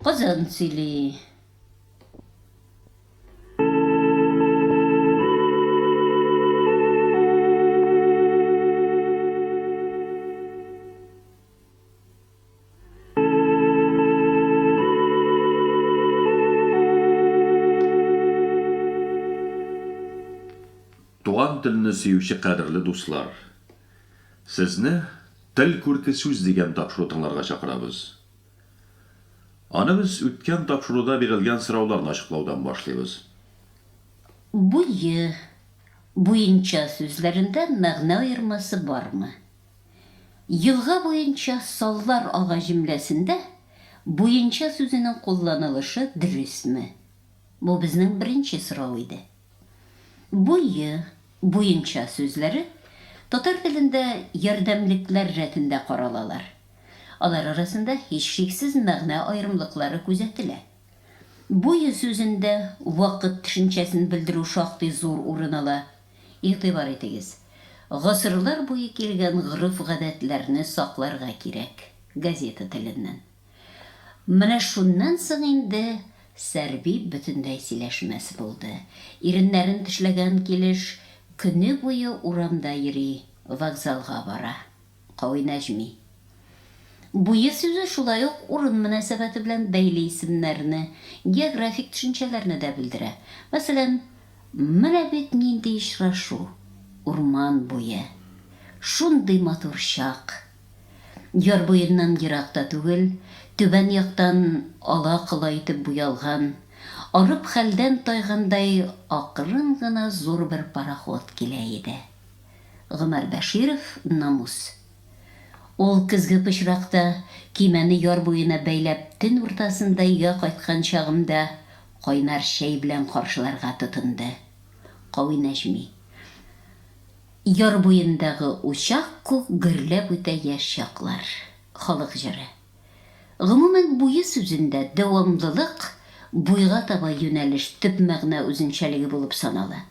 Кызын сөйли. Туган телне сөюче кадерле дуслар! Сезне Тел күрке сүз дигән тапшыру тыңларга чакырабыз. Аны без үткән тапшыруда бирелгән сорауларны ачыклаудан башлыйбыз. Буе, буенча сүзләрендә мәгънә аермасы бармы? Елга буенча саллар ага җөмләсендә буенча сүзенең кулланылышы дөресме? Бу безнең беренче сорау иде. Буе, буенча сүзләре татар телендә ярдәмлекләр рәтендә каралалар. Алар арасында һичшиксез мәгънә аерымлыклары күзәтелә. Буе сүзендә вакыт төшенчәсен белдерү шактый зур урын ала. Игътибар итегез, Гасырлар буе килгән гореф-гадәтләрне сакларга кирәк, газета теленнән. Менә шуннан соң инде Сәрби бөтенләй сөйләшмәс булды. Иреннәрен тешләгән килеш, көне буе урамда йөри, вокзалга бара. Кавинәҗми. Буе сүзе шулай ук урын мөнәсәбәте белән бәйле исемнәрне, географик төшенчәләрне дә белдерә. Мәсәлән, Менә бит нинди очрашу, урман буе! Шундый матур чак! Яр буеннан ерак та түгел, түбән яктан ала-кола итеп буялган, арып хәлдән тайгандай акрын гына зур бер пароход килә иде. Гомәр Бәширов, Намус. Ул көзге пычракта, көймәне яр буена бәйләп, төн уртасында өйгә кайткан чагымда кайнар чәй белән каршыларга тотынды. Кави Нәҗми. Яр буендагы учак күк Гөрләп үтә яшь чаклар. Халык җыры. Гомумән, буе сүзендә дәвамлылык, буйга таба юнәлеш төп мәгънә үзенчәлеге булып санала.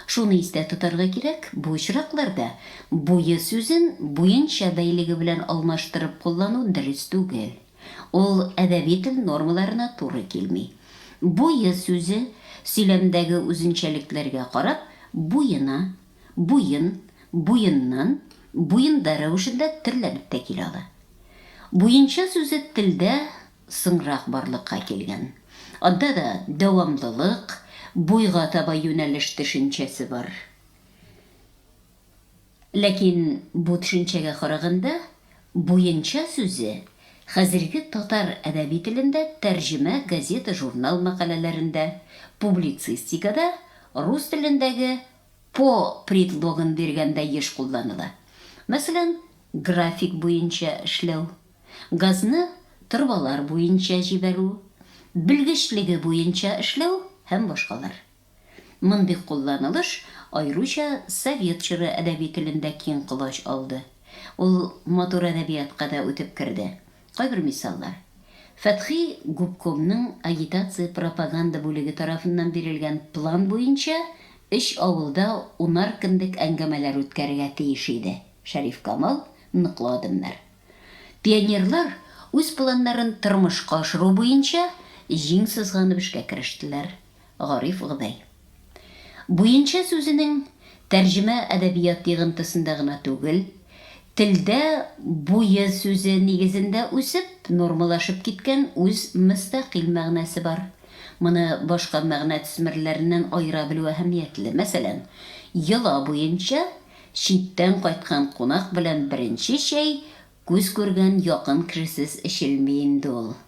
Шуны истә тотарга кирәк, бу очракларда буе сүзен буенча бәйлеге белән алмаштырып куллану дөрес түгел. Ул әдәби тел нормаларына туры килми. Буе сүзе, сөйләмдәге үзенчәлекләргә карап, буена Буен, буеннан, буенда рәвешендә терләнеп тә килә ала. Буенча сүзе телдә соңрак барлыкка килгән. Анда да дәвамлылык, буйга таба юнәлеш төшенчәсе бар. Ләкин бу төшенчәгә караганда, буенча сүзе хәзерге татар әдәби телендә тәрҗемә газета-журнал мәкаләләрендә, публицистикада рус телендәге По предлогын биргәндә еш кулланыла. Мәсәлән, график буенча эшләү, газны торбалар буенча җибәрү, белгечлеге буенча эшләү һәм башкалар. Мондый кулланылыш аеруча совет чоры әдәби телендә киң колач алды. Ул матур әдәбиятка да үтеп керде. Кайбер мисаллар. Фәтхи губкомның агитация-пропаганда бүлеге тарафыннан бирелгән план буенча өч авылда унар көнлек әңгәмәләр үткәрергә тиеш иде, Шәрифкамал, Ныклы адымнар. Пионерлар үз планнарын тормышка ашыру буенча җиң сызганып эшкә керештеләр. Гариф Гдай. Буенча сүзенең тәрҗемә әдәбият йыгынтысында гына түгел, телдә буе сүзе нигезендә үсеп, нормалашып киткән үз мөстәкыйль мәгънәсе бар. Моны башка мәгънә төсмерләреннән аера белү әһәмиятле. Мәсәлән, йола буенча читтән кайткан кунак белән беренче чәй күз күргән якын кешесез эчелми инде ул.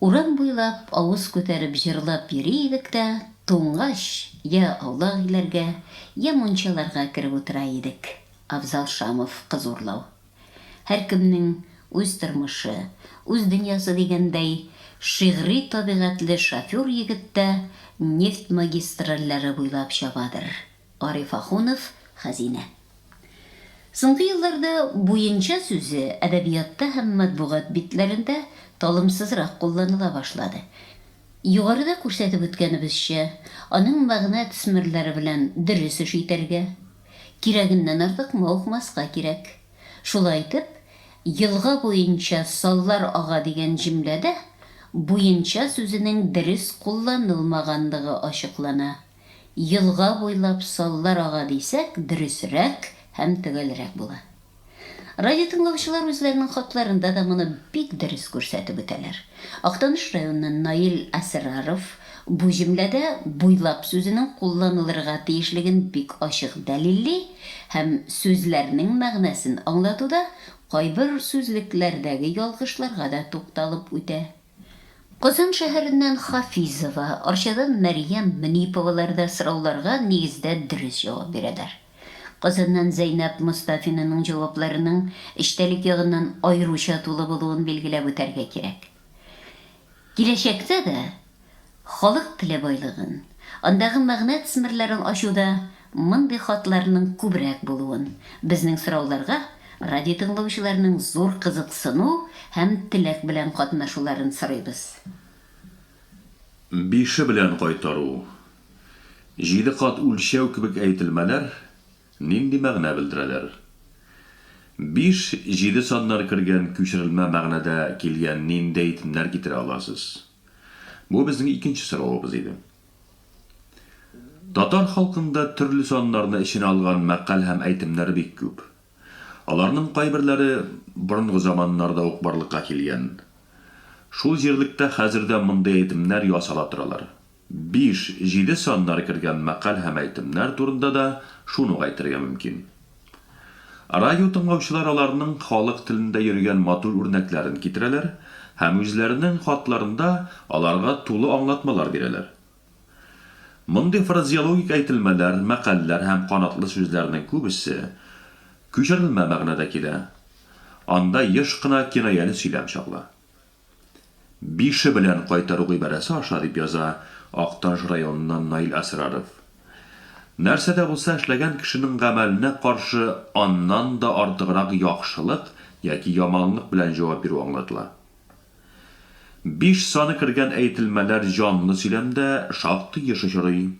Урам буйлап авыз күтәреп җырлап йөри идек тә, туңгач, йә аулак өйләргә, йә мунчаларга кереп утыра идек. Афзал Шамов, Кыз урлау. Һәркемнең үз тормышы, үз дөньясы дигәндәй, шигъри табигатьле шофер егет тә нефть магистральләре буйлап чабадыр. Ариф Ахунов, Хәзинә. Соңгы елларда буенча сүзе әдәбиятта һәм матбугат битләрендә талымсызрак кулланыла башлады. Югарыда күрсәтеп үткәнебезчә, аның мәгънә төсмерләре белән дөрес эш итәргә, кирәгеннән артык мавыкмаска кирәк. Шулай итеп, елга буенча саллар ага дигән җөмләдә буенча сүзенең дөрес кулланылмаганлыгы ачыклана. елга буйлап саллар ага дисәк, дөресрәк һәм төгәлрәк була. Радиотыңлаучылар үзләренең хатларында да моны бик дөрес күрсәтеп үтәләр. Актаныш районыннан Наил Әсраров бу җөмләдә буйлап сүзенең кулланылырга тиешлеген бик ачык дәлилли һәм сүзләрнең мәгънәсен аңлатуда кайбер сүзлекләрдәге ялгышларга да тукталып үтә. Казан шәһәреннән Хафизова, Арчадан Мәрьям Мөниповалар да сорауларга нигездә дөрес җавап бирәләр. Казаннан Зәйнәб Мостафинаның җавапларының эчтәлек ягыннан аеруча тулы булуын билгеләп үтәргә кирәк. Киләчәктә дә халык теле байлыгын, андагы мәгънә тсмерләрен ачуда Мондый хатларның күбрәк булуын, безнең сорауларга радиотыңлаучыларның зур кызыксыну һәм теләк белән катнашуларын сорыйбыз. Бише белән кайтару, җиде кат үлчәү кебек әйтелмәләр нинди мәгънә белдерәләр? Биш, җиде саннар кергән күчерелмә мәгънәдә килгән нинди әйтемнәр китерә аласыз? Бу безнең икенче соравыбыз иде. Татар халкында төрле саннарны эченә алган мәкаль һәм әйтемнәр бик күп. Аларның кайберләре борынгы заманнарда ук барлыкка килгән. Шул җирлектә хәзер дә мондый әйтемнәр ясала торалар. Биш, җиде саннары кергән мәкаль һәм әйтемнәр турында да шуны ук әйтергә мөмкин. Радио тыңлаучылар аларның халык телендә йөргән матур үрнәкләрен китерәләр һәм үзләренең хатларында аларга тулы аңлатмалар бирәләр. Мондый фразеологик әйтелмәләр, мәкальләр һәм канатлы сүзләрнең күбесе күчерелмә мәгънәдә килә, анда еш кына кинаяле сөйләм чагыла. Бише белән кайтару гыйбарәсе аша, дип яза Актаныш районыннан Наил Әсраров. Нәрсә дә булса эшләгән кешенең гамәленә каршы аннан да артыграк яхшылык яки яманлык белән җавап бирү аңлатыла. Биш саны кергән әйтелмәләр җанлы сөйләмдә шактый еш очрый.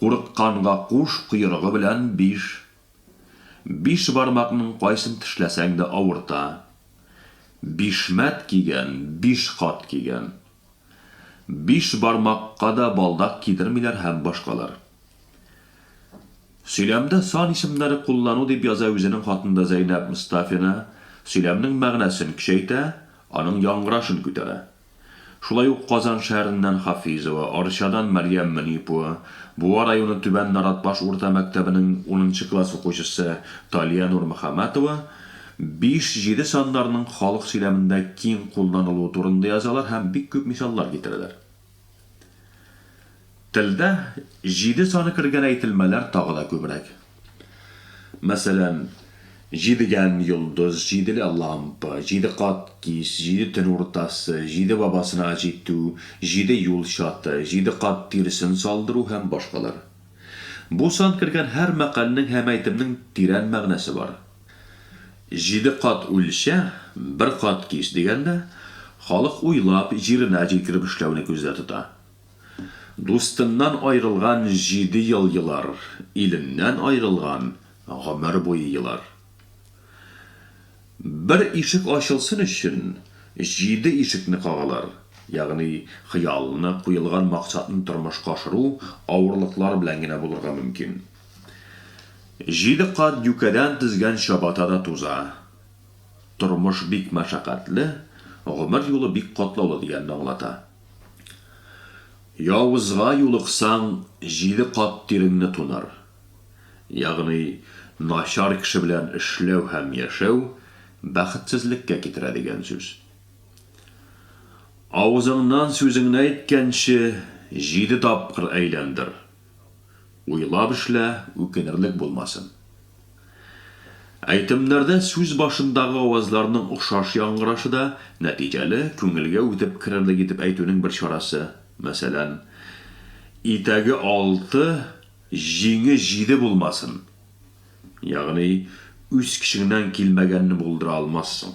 Курыкканга куш коерыгы белән биш. Биш бармакның кайсын тешләсәң дә авырта. Бишмәт кигән, биш кат кигән. Биш бармакка да балдак кидермиләр һәм башкалар. Сөйләмдә сан исемнәре куллану дип яза үзенең хатында Зәйнәб Мостафина, сөйләмнең мәгънәсен көчәйтә, аның яңгырашын күтәрә. Шулай ук Казан шәһәреннән Хафизова, Арчадан Мәрьям Мөнипова, Буа районы Түбән Наратбаш урта мәктәбенең унынчы класс укучысы Талия Нурмөхәммәтова биш, җиде саннарының халык сөйләмендә киң кулланылуы турында язалар һәм бик күп мисаллар китерәләр. Телдә җиде саны кергән әйтелмәләр тагы да күбрәк. Мәсәлән, җидегән йолдыз, җиделе лампа, җиде кат кич, җиде төн уртасы, җиде бабасына җитү, җиде юл чаты, җиде кат тиресен салдыру һәм башкалар. Бу сан кергән һәр мәкальнең һәм әйтемнең тирән мәгънәсе бар. Җиде кат үлчә, бер кат кич дигәндә, халык уйлап, җиренә җиткереп эшләүне күздә тота. Дустыннан айрылган җиде ел елар, иленнән айрылган гомер буе елар. Бер ишек ачылсын өчен, җиде ишекне кагалар, ягъни хыялны, куелган максатны тормышка ашыру авырлыклар белән генә булырга мөмкин. Җиде кат юкәдән тезгән чабата да туза. Тормыш бик мәшәкатьле, гомер юлы бик катлаулы дигәнне аңлата. Явызга юлыксаң, җиде кат тиреңне тунар. Ягъни, начар кеше белән эшләү һәм яшәү бәхетсезлеккә китерә дигән сүз. Авызыңнан сүзеңне әйткәнче, җиде тапкыр әйләндер, Уйлап эшлә, үкенерлек булмасын. Әйтемнәрдә сүз башындагы авазларның охшаш яңгырашы да нәтиҗәле, күңелгә үтеп керерлек итеп әйтүнең бер чарасы. Мәсәлән, Итәге алты, җиңе җиде булмасын. Ягъни, үз көчеңнән килмәгәнне булдыра алмассың.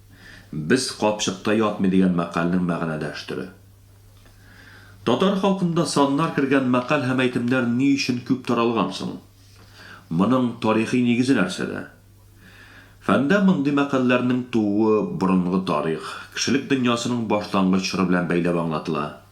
Без капчыкта ятмый дигән мәкальнең мәгънәдәш төре. Татар халкында саннар кергән мәкаль һәм әйтемнәр ни өчен күп таралган соң? Моның тарихи нигезе нәрсәдә? Фәндә мондый мәкальләрнең тууы борынгы тарих, кешелек дөньясының башлангыч чоры белән бәйләп аңлатыла.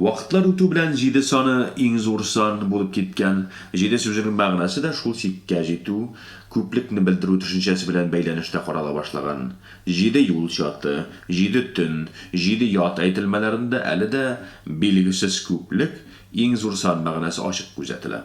Вакытлар үтү белән җиде саны иң зур сан булып киткән. Җиде сүзенең мәгънәсе дә шул чиккә җитү, күплекне белдерү төшенчәсе белән бәйләнештә карала башлаган. Җиде юл чаты, җиде төн, җиде ят әйтелмәләрендә әле дә билгесез күплек, иң зур сан мәгънәсе ачык күзәтелә.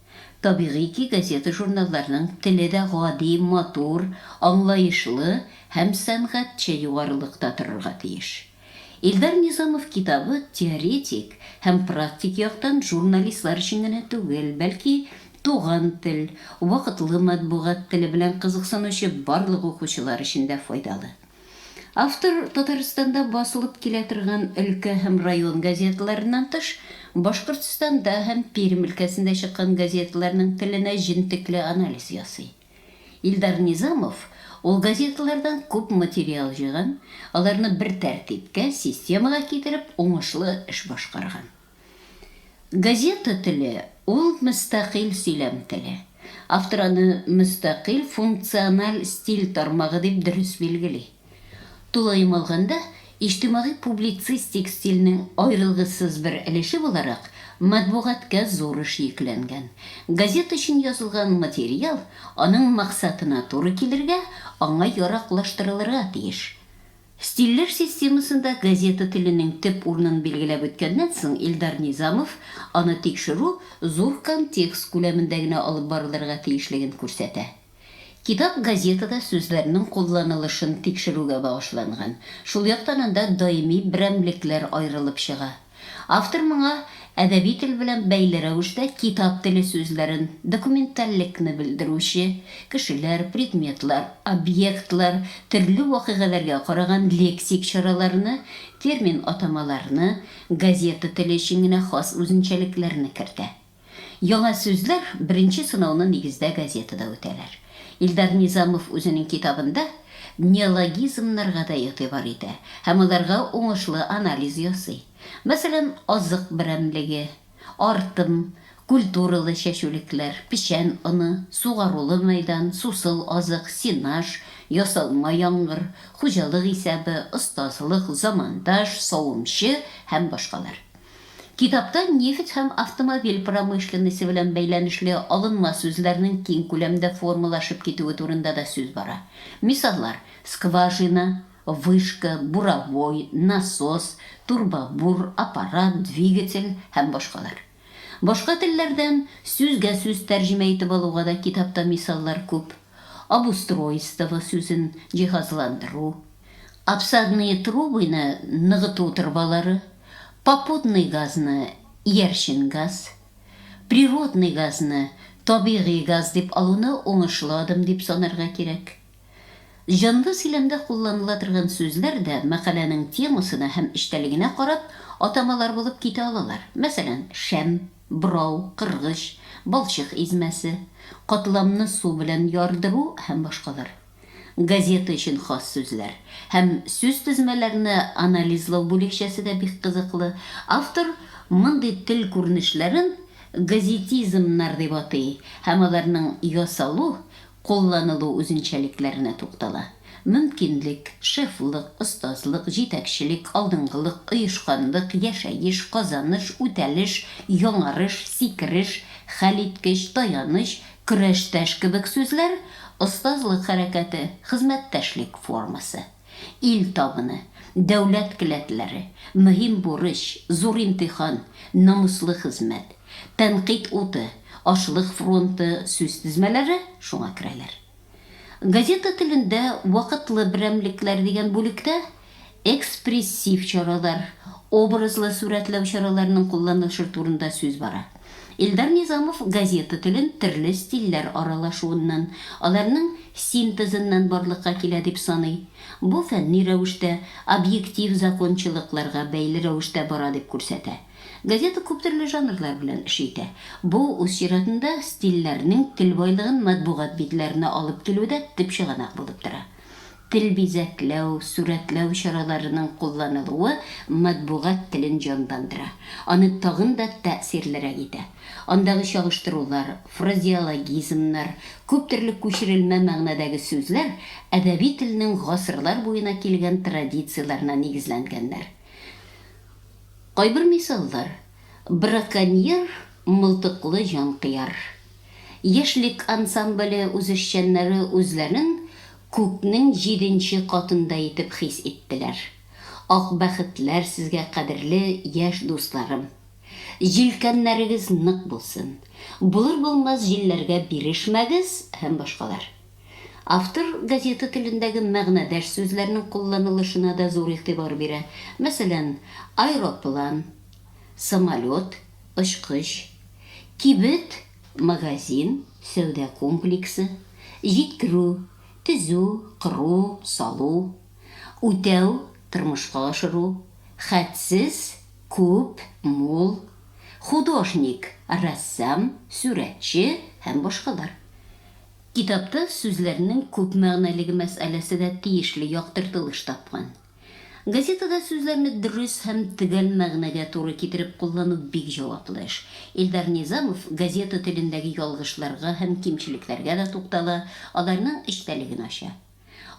Табигый ки, газета-журналларның теле дә гади, матур, аңлаешлы һәм сәнгатьчә югарылыкта торырга тиеш. Илдар Низамов китабы теоретик һәм практик яктан журналистлар өчен генә түгел, бәлки туган тел, вакытлы матбугат теле белән кызыксынучы барлык укучылар өчен дә файдалы. Автор Татарстанда басылып килә торган өлкә һәм район газеталарыннан тыш, Башкортстанда һәм Пермь өлкәсендә чыккан газеталарның теленә җентекле анализ ясый. Илдар Низамов ул газеталардан күп материал җыйган, аларны бер тәртипкә, системага китереп, уңышлы эш башкарган. Газета теле, ул мөстәкыйль сөйләм теле. Автор аны мөстәкыйль функциональ стиль тармагы дип дөрес билгели. Тулаем алганда, иҗтимагый-публицистик стильнең аерылгысыз бер өлеше буларак, матбугатка зур эш йөкләнгән. Газета өчен язылган материал аның максатына туры килергә, аңа яраклаштырылырга тиеш. Стильләр системасында газета теленең төп урынын билгеләп үткәннән соң Илдар Низамов аны тикшерү зур контекст күләмендә генә алып барылырга тиешлеген күрсәтә. Китап газетада сүзләрнең кулланылышын тикшерүгә багышланган, шул яктан анда даими берәмлекләр аерылып чыга. Автор моңа әдәби тел белән бәйле рәвештә китап теле сүзләрен, документальлекне белдерүче, кешеләр, предметлар, объектлар, төрле вакыйгаләргә караган лексик чараларны, термин-атамаларны, газета теле өчен генә хас үзенчәлекләрне кертә. Яңа сүзләр беренче сынауны нигездә газетада үтәләр. Илдар Низамов үзенең китабында неологизмнарга да игътибар итә һәм аларга уңышлы анализ ясый. Мәсәлән, азык берәмлеге, артым, культуралы чәчүлекләр, печән оны, сугарулы мәйдан, сусыл азык, сенаж, ясалма яңгыр, хуҗалык исәбе, остазлык, замандаш, савымчы һәм башкалар. Китапта нефть һәм автомобиль промышленносе белән бәйләнешле алынма сүзләрнең киң күләмдә формалашып китүе турында да сүз бара. Мисаллар, скважина, вышка, буровой, насос, турбобур, аппарат, двигатель һәм башкалар. Башка телләрдән сүзгә-сүз тәрҗемә итеп алуга да китапта мисаллар күп. Обустройство сүзен җиһазландыру, обсадные трубыйны ныгыту торбалары, попутный газны иярчен газ, природный газны табигый газ дип алуны уңышлы адым дип санарга кирәк. Җанлы сөйләмдә кулланыла торган сүзләр дә мәкаләнең темасына һәм эчтәлегенә карап атамалар булып китә алалар. Мәсәлән, шәм. Брау, кыргыч, балчык измәсе, катламны су белән ярдыру һәм башкалар. Газета өчен хас сүзләр һәм сүзтезмәләрне анализлау бүлекчәсе дә бик кызыклы. Автор мондый тел күренешләрен газетизмнар дип атый һәм аларның ясалу, кулланылу үзенчәлекләренә туктала. Мөмкинлек, шефлык, остазлык, җитәкчелек, алдынгылык, оешканлык, яшәеш, казаныш, үтәлеш, яңарыш, сикереш, хәлиткеч, таяныч, көрәштәш кебек сүзләр, остазлык хәрәкәте, хезмәттәшлек формасы. Ил табыны, дәүләт келәтләре, мөһим бурыч, зур имтихан, намуслы хезмәт, тәнкыйть уты, ашлык фронты сүз тезмәләре шуңа керәләр. Газета телендә Вакытлы берәмлекләр дигән бүлектә экспрессив чаралар, образлы сурәтләү чараларының кулланылышы турында сүз бара. Илдар Низамов газета телен төрле стильләр аралашуыннан, аларның синтезыннан барлыкка килә дип саный. Бу фәнни рәвештә, объектив закончалыкларга бәйле рәвештә бара дип күрсәтә. Газета күптөрле жанрлар белән эш итә. Бу, үз чиратында, стильләрнең тел байлыгын матбугат битләренә алып килүдә төп чыганак булып тора. Тел бизәкләү, сурәтләү чараларының кулланылуы матбугат телен җанландыра, аны тагын да тәэсирлерәк итә. Андагы чагыштырулар, фразеологизмнар, күптөрле күчерелмә мәгънәдәге сүзләр әдәби телнең гасырлар буена килгән традицияләренә нигезләнгәннәр. Кайбер мисаллар. Браконьер, мылтыклы җанкыяр. Яшьлек ансамбле үзешчәннәре үзләрен күкнең җиденче катында итеп хис иттеләр. Ак бәхетләр сезгә, кадерле яшь дусларым! Җилкәннәрегез нык булсын! Булыр-булмас җилләргә бирешмәгез һәм башкалар. Автор газета телендәге мәгънәдәш сүзләрнең кулланылышына да зур игътибар бирә. Мәсәлән, аэроплан. самолет, очкыч, кибет, магазин, сәүдә комплексы, җиткерү, төзү, кору, салу, үтәү, тормышка ашыру, хәтсез, күп, мул, художник, рәссам, сүрәтче һәм башкалар. Китапта сүзләрнең күпмәгънәлеге мәсьәләсе дә тиешле яктыртылыш тапкан. Газетада сүзләрне дөрес һәм төгәл мәгънәгә туры китереп куллану бик җаваплы эш. Илдар Низамов газета телендәге ялгышларга һәм кимчелекләргә дә туктала, аларның эчтәлеген ача.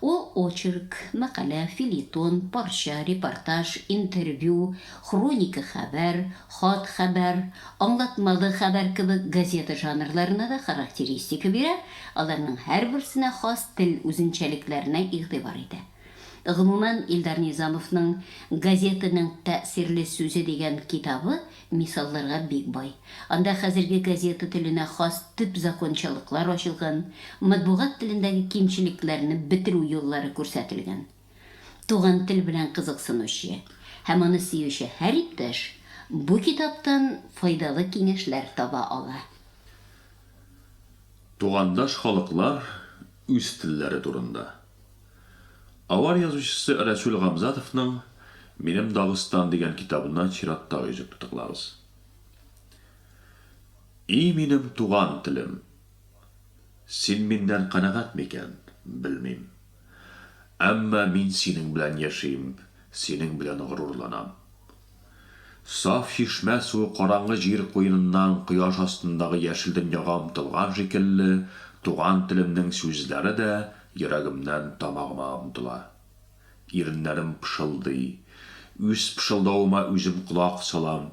Ул очерк, мәкалә, фельетон, парча, репортаж, интервью, хроника хәбәр, хат хәбәр, аңлатмалы хәбәр кебек газета жанрларына да характеристика бирә, аларның һәрберсенә хас тел үзенчәлекләренә игътибар итә. Гомумән, Илдар Низамовның Газетаның тәэсирле сүзе дигән китабы мисалларга бик бай. Анда хәзерге газета теленә хас төп закончалыклар ачылган, матбугат телендәге кимчелекләрне бетерү юллары күрсәтелгән. Туган тел белән кызыксынучы һәм аны сөюче һәр иптәш бу китаптан файдалы киңәшләр таба ала. Тугандаш халыклар үз телләре турында. Авар язучысы Рәсүл Гамзатовның Минем Дагыстан дигән китабына чиратта йөзеп тотыклабыз. И минем туган телем! Син миннән канәгать микән, белмим. Әмма мин синең белән яшим, синең белән горурланам. Саф чишмә суы караңгы җир куеныннан кояш астындагы яшел дөньяга омтылган шикелле, туган телемнең сүзләре дә йөрәгемнән тамагыма омтыла. Иреннәрем пышылдый. Үз пышылдавыма үзем колак салам.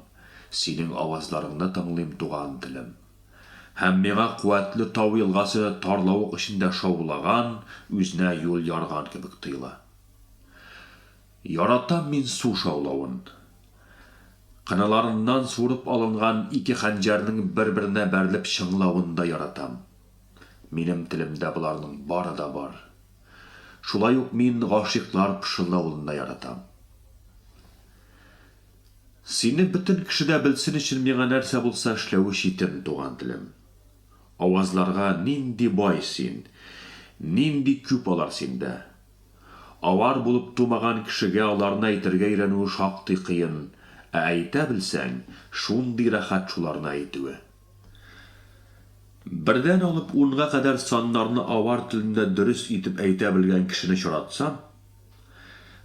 Синең авазларыңны тыңлыйм, туган телем. Һәм миңа куәтле тау елгасы тарлавык эчендә шаулаган, үзенә юл ярган кебек тоела. Яратам мин су шаулавын. Кыналарыннан суырып алынган ике хәнҗәрнең бер-беренә бәрелеп чыңлавын да яратам. Минем телемдә боларның бары да бар. Шулай ук мин гашыйклар пышылдавын да яратам. Сине бөтен кеше дә белсен өчен миңа нәрсә булса эшләү читен, туган телем. Авазларга нинди бай син, нинди күп алар синдә. Авар булып тумаган кешегә аларны әйтергә өйрәнүе шактый кыен, ә әйтә белсәң, шундый рәхәт шуларны әйтүе. Бердән алып унга кадәр саннарны авар телендә дөрес итеп әйтә белгән кешене очратсам,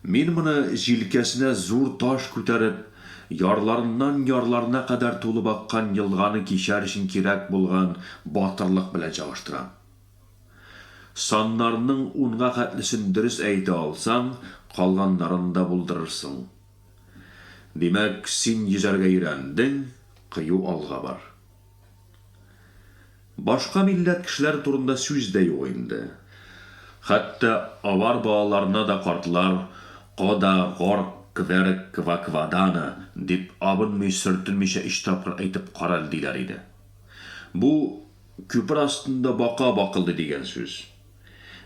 мин моны җилкәсенә зур таш күтәреп, ярларыннан ярларына кадәр тулып аккан елганы кичәр өчен кирәк булган батырлык белән чагыштырам. Саннарның унга хәтлесен дөрес әйтә алсаң, калганнарын да булдырырсың. Димәк, син йөзәргә өйрәндең, кыю алга бар. Башка милләт кешеләре турында сүз дә юк инде. Хәтта авар балаларына да картлар кода, горк, кверк, кваквадана дип абынмый-сөртенмичә өч тапкыр әйтеп карале диләр иде. Бу, Күпер астында бака бакылдый дигән сүз.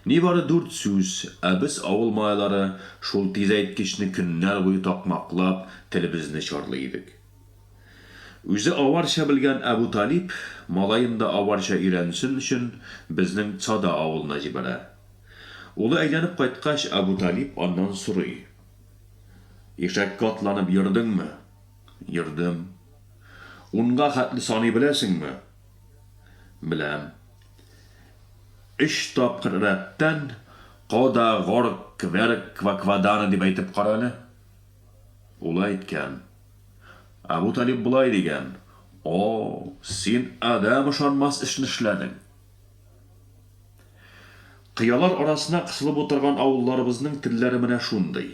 Нибары дүрт сүз, ә без, авыл малайлары, шул тизәйткечне көннәр буе такмаклап, телебезне чарлый идек. Үзе аварча белгән Әбуталип, малаен да аварча өйрәнсен өчен, безнең Цада авылына җибәрә. Улы әйләнеп кайткач, Әбуталип аннан сорый. Ишәккә атланып йөрдеңме? Йөрдем. Унга хәтле саный беләсеңме? Беләм. Өч тапкыр рәттән кода, горк, кверк, кваквадана дип әйтеп кара әле. Ул әйткән. Әбу Талиб болай дигән, О, син адәм ышанмас эшне эшләдең. Кыялар арасына кысылып утырган авылларыбызның телләре менә шундый.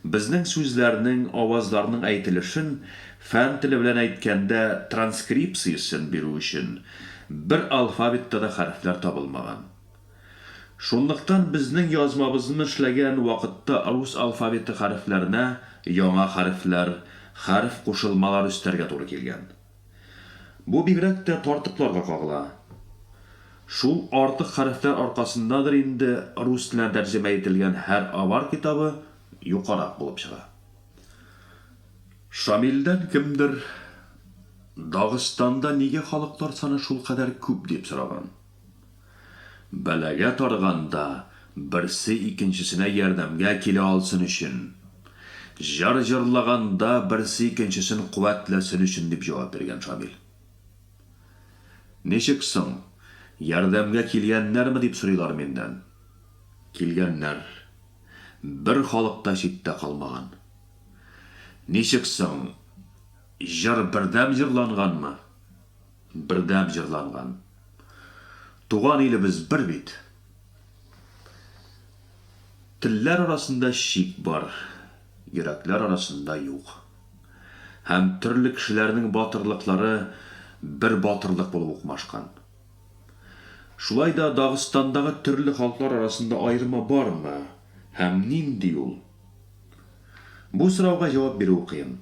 Безнең сүзләрнең, авазларның әйтелешен, фән теле белән әйткәндә, транскрипциясен бирү өчен, бер алфавитта да хәрефләр табылмаган. Шунлыктан безнең язмабызны эшләгән вакытта рус алфавиты хәрефләренә яңа хәрефләр, хәреф кушылмалар өстәргә туры килгән. Бу бигрәк тә тартыкларга кагыла. Шул артык хәрефләр аркасындадыр инде рус теленә тәрҗемә ителгән һәр авар китабы юкарак булып чыга. Шамилдән кемдер Дагыстанда нигә халыклар саны шулкадәр күп дип сораган. Бәлагә тарганда, берсе икенчесенә ярдәмгә килә алсын өчен. Җыр җырлаганда, берсе икенчесен куәтләсен өчен, дип җавап биргән Шамил. Ничек соң, ярдәмгә килгәннәрме, дип сорыйлар миннән. Килгәннәр. Бер халык та читтә калмаган. Ничек соң, җыр бердәм җырланганмы? Бердәм җырланган. Туган илебез бер бит. Телләр арасында чик бар, йөрәкләр арасында юк. Һәм төрле кешеләрнең батырлыклары бер батырлык булып укмашкан. Шулай да Дагыстандагы төрле халыклар арасында аерма бармы һәм нинди ул? Бу сорауга җавап бирү кыен.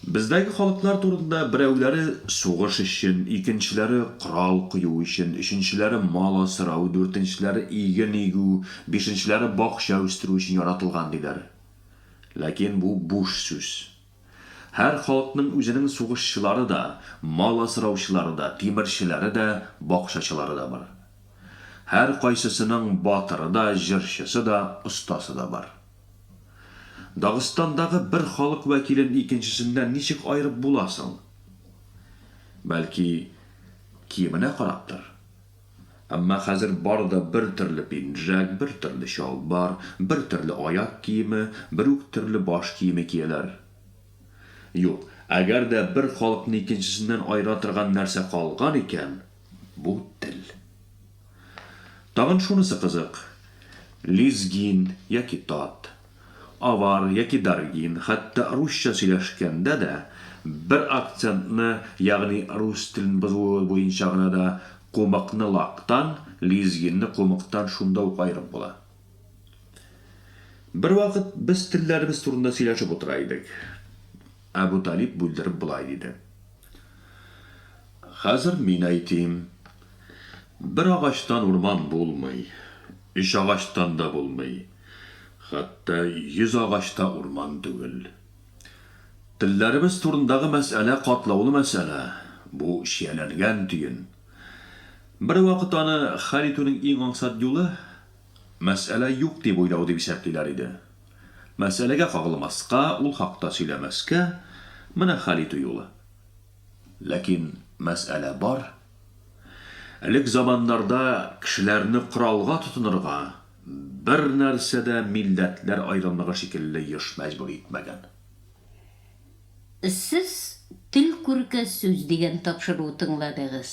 Бездәге халыклар турында берәүләре сугыш өчен, икенчеләре корал кую өчен, өченчеләре мал асрау, дүртенчеләре иген игү, бишенчеләре бакча үстерү өчен яратылган диләр. Ләкин бу буш сүз. Һәр халыкның үзенең сугышчылары да, мал асраучылары да, тимерчеләре дә, бакчачылары да бар. Һәркайсысының батыры да, җырчысы да, остасы да бар. Дагыстандагы бер халык вәкилен икенчесеннән ничек аерып була соң? Бәлки, киеменә караптыр? Әмма хәзер бары да бер төрле пинжәк, бер төрле чалбар, бер төрле аяк киеме, бер үк төрле баш киеме кияләр. Юк, әгәр дә бер халыкны икенчесеннән аера торган нәрсә калган икән, Бу тел. Тагын шунысы кызык, лезгин яки тат, авар яки даргин, хәтта русча сөйләшкәндә дә, бер акцентны, ягъни рус телен бозуы буенча гына да кумыкны лактан, лезгинны кумыктан шунда ук аерып була. Бервакыт без телләребез турында сөйләшеп утыра идек. Әбү Талиб бүлдереп болай диде. Хәзер мин әйтим. Бер агачтан урман булмый, өч агачтан да булмый, хәтта йөз агач та урман түгел. Телләребез турындагы мәсьәлә катлаулы мәсьәлә, бу чияләнгән төен. Бервакыт аны хәл итүнең иң аңсат юлы, мәсьәлә юк дип уйлау дип исәплиләр иде. Мәсьәләгә кагылмаска, ул хакта сөйләмәскә, менә хәл итү юлы. Ләкин мәсьәлә бар. Элек заманнарда кешеләрне коралга тотынырга бернәрсә дә милләтләр аерымлыгы шикелле еш мәҗбүр итмәгән. Сез тел күрке сүз дигән тапшыруы тыңладыгыз.